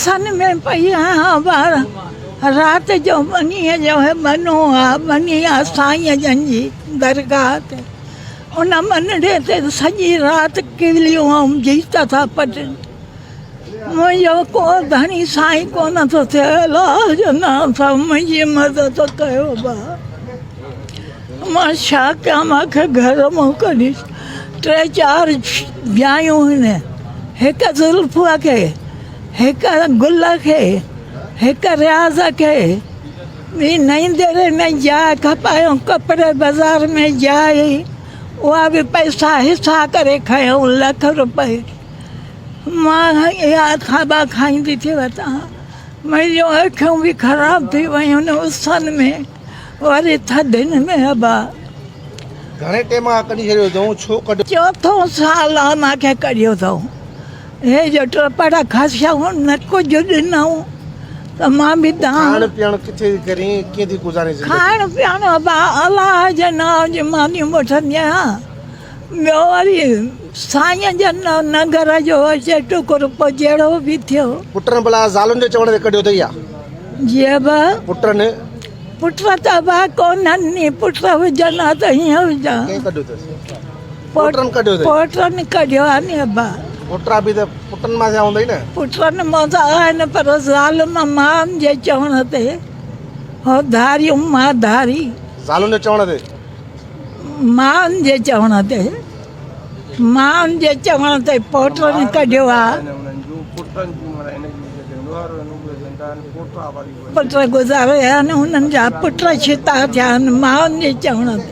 سن ۾ پئي آهيان ٻار. رات جو ٻنيء جو هي ٻنو آ، ٻني آ سائينء جن جي درگاهه تي. ان ٻنڙي تي سڄي رات ڪيوليون ۽ جيت ٿا پٽن. منهنجو ڪو ڌڻي سائين ڪونه ٿو ٿئي، الله جو نانء اٿئي، منهنجي مدد ڪيو ڀاء. مان ڇا ڪيان، مان کي گهر مان ڪڍي ٽي چار جايون هن هڪ زلفيٰ کي. هڪ گل کي، هڪ رياض کي، ٻي نئين ديري ۾ جاء کپايائون، ڪپڙي بازار ۾ جاء هئي، اها به پئسا حصا ڪري کنيائون، لک روپيه. مان اها کاٻا کائيندي ٿي وتان، منهنجون اکيون به خراب ٿي ويون، اسن ۾ وري ٿڌين ۾ ابا. گهڻي ٽيم کان ڪڍي ڇڏيو اٿئون، ڇو ڪڍيو؟ چوٿون سال آ مان کي ڪڍيو اٿئون. هي جو ٽپڙ کسيائون نه ڪجهه ڏنائون ته مان به دانهن. کائڻ پيئڻ ڪٿي ٿي ڪرين ۽ ڪيئن ٿي گذارين زندگي. کائڻ پيئڻ ابا الله جي نانء جي مانيون وٺندي آهيان ٻيو وري سائينء جي نگر جو اچي ٽڪ رپو جهڙو به ٿيو. پٽن ڀلا زالن جي چوڻ تي ڪڍيو اٿئي يا؟ جي ابا. پٽن. پٽ ته ابا ڪونهن ني پٽ هجن ها ته هيئن هجان. ڪنهن ڪڍيو اٿس؟ پوٽرن ڪڍيو اٿئي. پوٽرن ڪڍيو آ ني ابا. پوٽرا به ته پٽن مان ٿيا هوندئي نه. پٽن مان ته آهن پر زالن مان جي چوڻ تي هو ڌاريون مان ڌاري. زالن جي چوڻ تي. مان جي چوڻ تي. مان جي چوڻ تي پوٽرن ڪڍيو آ. پٽ گذاريا آهن انهن جا پٽ ڇتا ٿيا آهن مان جي چوڻ تي.